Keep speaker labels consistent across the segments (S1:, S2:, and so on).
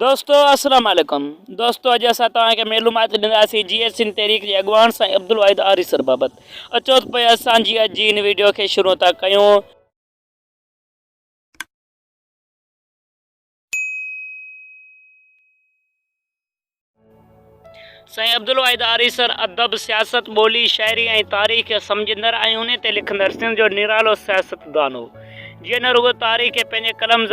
S1: دوستو السلام عليڪم دوستو اڄ اسان توهان کي معلومات ڏينداسين جي ايس سنڌ تحريڪ جي اڳواڻ سائين عبدالواحد آريسر بابت اچو ته پوء اسان جي اڄ جي هن ويڊيو کي شروع ٿا ڪيون سائين عبدالواحد آريسر ادب، سياست، ٻولي، شاعري ۽ تاريخ کي سمجهندڙ ۽ انهي تي لکندڙ سنڌ جو نرالو سياستدان هو، جنهن نه رڳو تاريخ کي پنهنجي قلم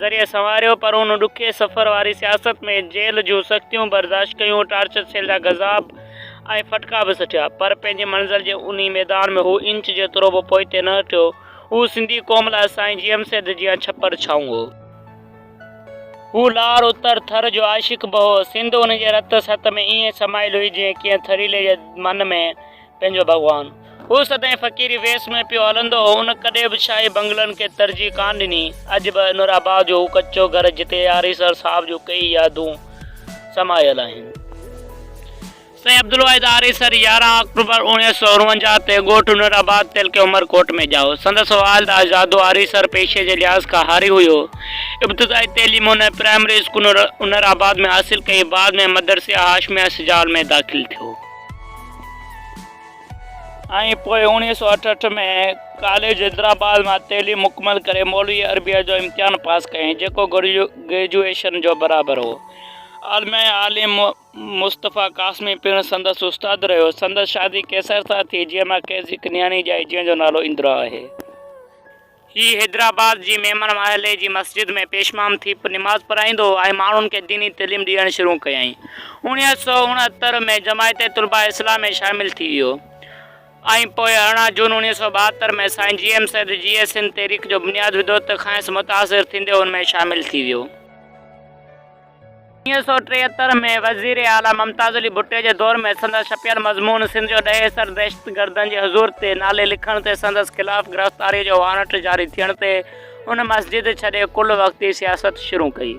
S1: ذريعي سنواريو، پر هن ڏکي سفر واري سياست ۾ جيل جون سختيون برداشت ڪيون، ٽارچر سيل جا گذاب ۽ ڦٽڪا به سٺيا، پر پنهنجي منزل جي انهي ميدان ۾ هو انچ جيترو به پوئتي نه هٽيو. هو سنڌي قوم لاء سائين جي ايم سيد جيان ڇپر ڇانو هو. هو لار اتر ٿر جو عاشق به هو. سنڌ ان جي رت ست ۾ ائين سمايل هئي جيئن ڪنهن ٿريلي جي من ۾ پنهنجو ڀڳوان. هو سدائين فقيري ويس ۾ پيو هلندو هو. هن ڪڏهن به شاهي بنگلن کي ترجيح ڪانه ڏني. اڄ به نور آباد جو هو ڪچو گهر جتي آريسر صاحب جون ڪيئي يادون سمايل آهن. سائين عبدالواحد آري سر يارهن آڪٽوبر اوڻيهه سؤ اڻونجاهه تي ڳوٺ نور آباد تعلقي عمر ڪوٽ ۾ ڄائو. سندس والد آزادو آري سر پيشي جي لحاظ کان هاري هيو. ابتدائي تعليم هن پرائمري اسڪول نور آباد ۾ حاصل ڪئي بعد ۾ مدرسي هاشميه سجاول ۾ داخل ٿيو. ۽ پوء اوڻيهه سؤ اٺهٺ ۾ ڪاليج حيدرآباد مان تعليم مڪمل ڪري مولوي عربيه جو امتحان پاس ڪيائين جيڪو گريجوئيشن جو برابر هو. عالميه عالم مصطفيٰ قاسمي پڻ سندس استاد رهيو. سندس شادي قيصر سان ٿي، جنهن مان کيس هڪ نياڻي ڄائي، جنهن جو نالو اندرا آهي. هي حيدرآباد جي ميمڻ محلي جي مسجد ۾ پيشمام ٿي نماز پڙهائيندو هو ۽ ماڻهن کي ديني تعليم ڏيڻ شروع ڪيائين. اوڻيهه سؤ اڻهتر ۾ جماعت طلباء اسلام ۾ شامل ٿي ويو ۽ پوء ارڙهن جون اوڻيهه سؤ ٻاهتر ۾ سائين جي ايم سيد جيئي سنڌ تحريڪ جو بنياد وڌو ته کانئس متاثر ٿيندي ان ۾ شامل ٿي ويو. انيس سؤ ٽيهتر ۾ وزير اعليٰ ممتاز علي ڀٽي جي دور ۾ سندس ڇپيل مضمون سنڌ جو ڏهي سر دهشتگردن جي حضور تي نالي لکڻ تي سندس خلاف گرفتاريء جو وارنٽ جاري ٿيڻ تي ان مسجد ڇڏي ڪل وقتي سياست شروع ڪئي.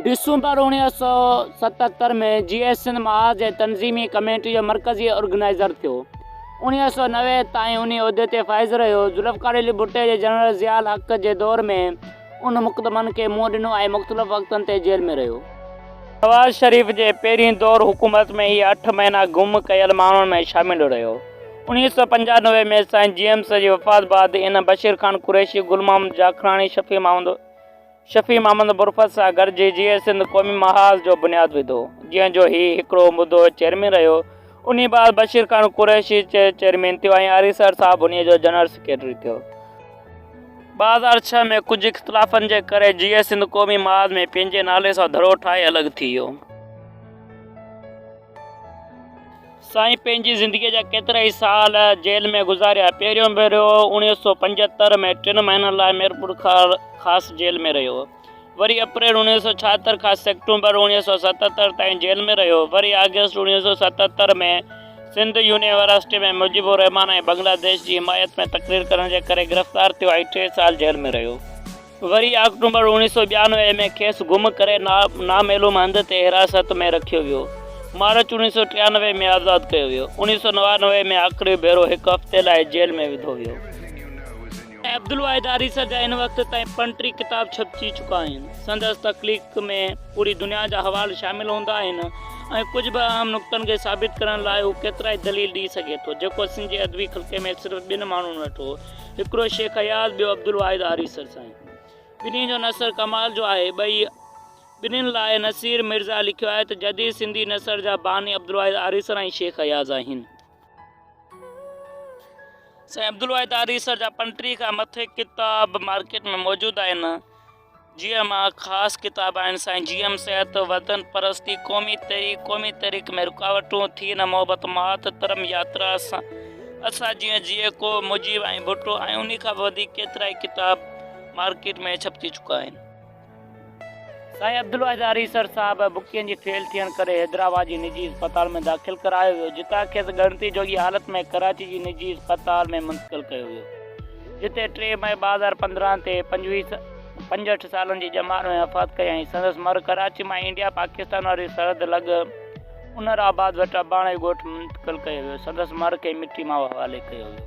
S1: ڊسمبر اوڻيهه سؤ ستهتر ۾ جيئي سنڌ محاذ جي تنظيمي ڪميٽي جو مرڪزي آرگنائيزر ٿيو. اوڻيهه سؤ نوي تائين انهي عهدي تي فائز رهيو. ذوالفقار علي ڀٽي جي جنرل ضياء الحق جي دور ۾، انهن مقدمن کي منهن ڏنو ۽ مختلف وقتن تي جيل ۾ رهيو. نواز شريف جي پهرين دور حڪومت ۾ هي اٺ مهينا گم ڪيل ماڻهن ۾ شامل رهيو. انويهه سؤ پنجانوي ۾ سائين جيمس جي وفات بعد هن بشير خان قريشي، گل محمد جاکراڻي، شفيع محمد شفيع محمد برفت سان گڏجي جيئي سنڌ قومي محاذ جو بنياد وڌو، جنهن جو هي هڪڙو مدو چيئرمين رهيو. انهيء بعد بشير خان قريشي چيئرمين ٿيو ۽ آريسر صاحب انهيء جو جنرل سيڪريٽري ٿيو. ٻه هزار ڇهه ۾ ڪجهه اختلافن جي ڪري جي اي سنڌ قومي محاذ ۾ پنهنجي نالي سان ڌڙو ٺاهي الڳ ٿي ويو. سائين پنهنجي زندگيء جا ڪيترائي سال جيل ۾ گذاريا. پهريون ڀيرو اڻيوهه سؤ پنجهتر ۾ ٽن مهينن لاء ميرپور خاص جيل ۾ رهيو. وري اپريل اوڻيهه سؤ ڇاهتر کان سيڪٽومبر اوڻيهه سؤ ستتر تائين جيل ۾ رهيو. وري آگسٽ اوڻيهه سؤ ستتر ۾ سنڌ يونيورسٽيء ۾ مجيب الرحمان ۽ بنگلاديش جي حمايت ۾ تقرير ڪرڻ جي ڪري گرفتار ٿيو ۽ ٽي سال جيل ۾ رهيو. وري آڪٽومبر اوڻيهه سؤ ٻيانوي ۾ کيس گم ڪري نامعلوم هنڌ تي حراست ۾ رکيو ويو. مارچ اوڻيهه سؤ ٽيانوي ۾ آزاد ڪيو ويو. اوڻيهه سؤ نوانوي ۾ آخري ڀيرو هڪ هفتي لاء جيل ۾ وڌو ويو. عبدالواحد آريسر جا هن وقت تائين پڻ ٽي ڪتاب ڇپجي چڪا آهن. سندس تخليق ۾ پوري دنيا جا حوال شامل هوندا آهن ۽ ڪجهه به اهم نقطن کي ثابت ڪرڻ لاء هو ڪيترائي دليل ڏئي سگهي ٿو، جيڪو سنڌ جي ادبي خلقي ۾ صرف ٻن ماڻهن وٽ هو، هڪڙو شيخ اياز، ٻيو عبدالواحد آريسر سائين. ٻنهي جو نثر ڪمال جو آهي. ٻئي ٻنهين لاء نصير مرزا لکيو آهي ته جديد سنڌي نثر جا باني عبدالواحد آريسر ۽ شيخ اياز آهن. سائين عبدالواحد آريسر جا پنٽيهه کان مٿي ڪتاب مارڪيٽ ۾ موجود آهن جيئن مان خاص ڪتاب آهن سائين جي ايم صحت وطن پرستي قومي تحريڪ قومي تحريڪ ۾ رڪاوٽون ٿي نه محبت مات ترم ياترا سان اسان جيئن جيئي ڪو مجيب ۽ ڀٽو ۽ انهي کان به وڌيڪ ڪيترا ئي ڪتاب مارڪيٽ ۾ ڇپجي چڪا آهن سائين عبدالواحد آريسر صاحب بڪين جي فيل ٿيڻ ڪري حيدرآباد جي نجي اسپتال ۾ داخل ڪرايو ويو جتان کيس ڳڻتي جوڳي حالت ۾ ڪراچي جي نجي اسپتال ۾ منتقل ڪيو ويو جتي ٽي مئي ٻه هزار پندرهن تي پنجويهه پنجهٺ سالن جي ڄمار ۾ وفات ڪيائين سندس مر ڪراچي مان انڊيا پاڪستان واري سرحد لڳ انر آباد وٽ اباڻي ڳوٺ منتقل ڪيو ويو سندس مر کي مٽي ماء حوالي ڪيو ويو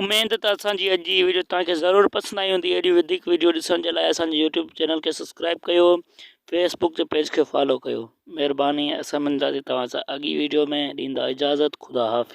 S1: اميد ته اسان جي اڄ جي هي ويڊيو توهان کي ضرور پسند آئي هوندي اهڙيون وڌيڪ ويڊيو ڏسڻ جي لاء اسان جي يوٽيوب چينل کي سبسڪرائب ڪيو فيس بڪ جي پيج کي فالو ڪيو مهرباني اسان مندادي توهان سان اڳي ويڊيو ۾ ڏيندا اجازت خدا حافظ